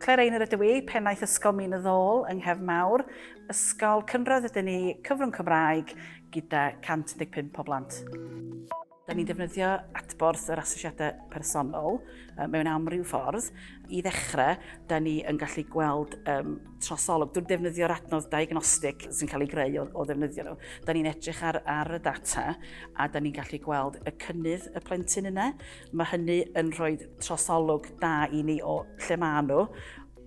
Claire Einor ydw i, pennaeth Ysgol Min y Ddôl yng Nghef Mawr, ysgol cynradd ydyn ni, cyfrwng Cymraeg gyda 115 o blant. Da ni'n defnyddio adborth yr asesiadau personol mewn amryw ffordd. I ddechrau, da ni yn gallu gweld um, trosolwg drwy defnyddio'r adnodd diagnostic sy'n cael ei greu o, o ddefnyddio nhw. Da ni'n edrych ar, ar y data a da ni'n gallu gweld y cynnydd y plentyn yna. Mae hynny yn rhoi trosolwg da i ni o lle maen nhw,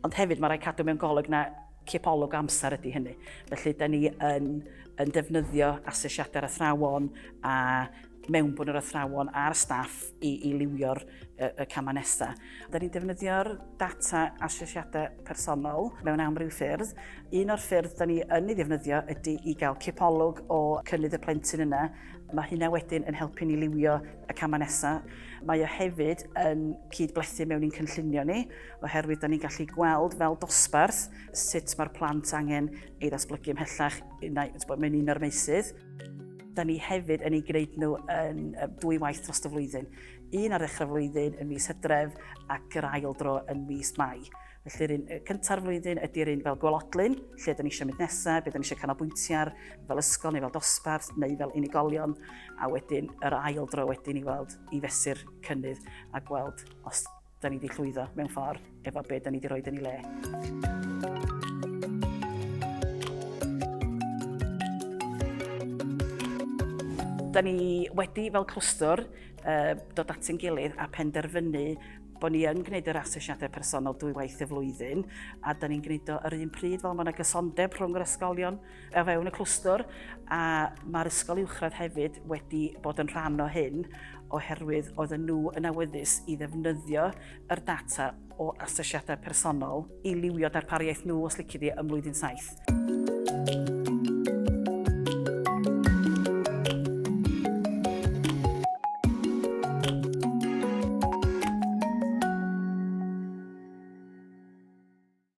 ond hefyd mae rhaid cadw mewn golwg na cipolwg amser ydy hynny. Felly, da ni yn, yn defnyddio asesiadau'r athrawon a mewnbwn yr athrawon a'r staff i, i liwio'r y, y camau nesaf. Da ni'n defnyddio'r data asesiadau personol mewn amryw ffyrdd. Un o'r ffyrdd da ni yn ei ddefnyddio ydy i gael cipolwg o cynnydd y plentyn yna. Mae hynna wedyn yn helpu ni liwio y camau nesaf. Mae o hefyd yn cyd-blethu mewn i'n cynllunio ni. oherwydd da ni'n gallu gweld fel dosbarth sut mae'r plant angen ei ddatblygu ymhellach, mae'n un o'r meysydd. Da ni hefyd yn ei gwneud nhw yn dwy waith dros y flwyddyn. Un ar ddechrau flwyddyn yn mis hydref ac yr ail dro yn mis mai. Felly'r un cynta'r flwyddyn ydy'r un fel gwelodlun, lle da ni eisiau mynd nesaf, beth da ni eisiau canolbwyntio ar, fel ysgol neu fel dosbarth neu fel unigolion, a wedyn yr ail dro wedyn i weld i fesur cynnydd a gweld os Da ni 'di llwyddo, mewn ffordd, efo be' 'da ni 'di roid yn ei le. Da ni wedi, fel clwstwr, yy dod at ein gilydd a phenderfynu bo' ni yn gwneud yr asesiadau personol dwy waith y flwyddyn, a da ni'n gwneud o yr un pryd fel ma' 'na gysondeb rhwng yr ysgolion. o fewn y clwstwr a mae'r ysgol uwchradd hefyd wedi bod yn rhan o hyn oherwydd oedd nhw yn awyddus i ddefnyddio yr data o asesiadau personol i liwio darpariaeth nhw os licid i ym mlwyddyn saith.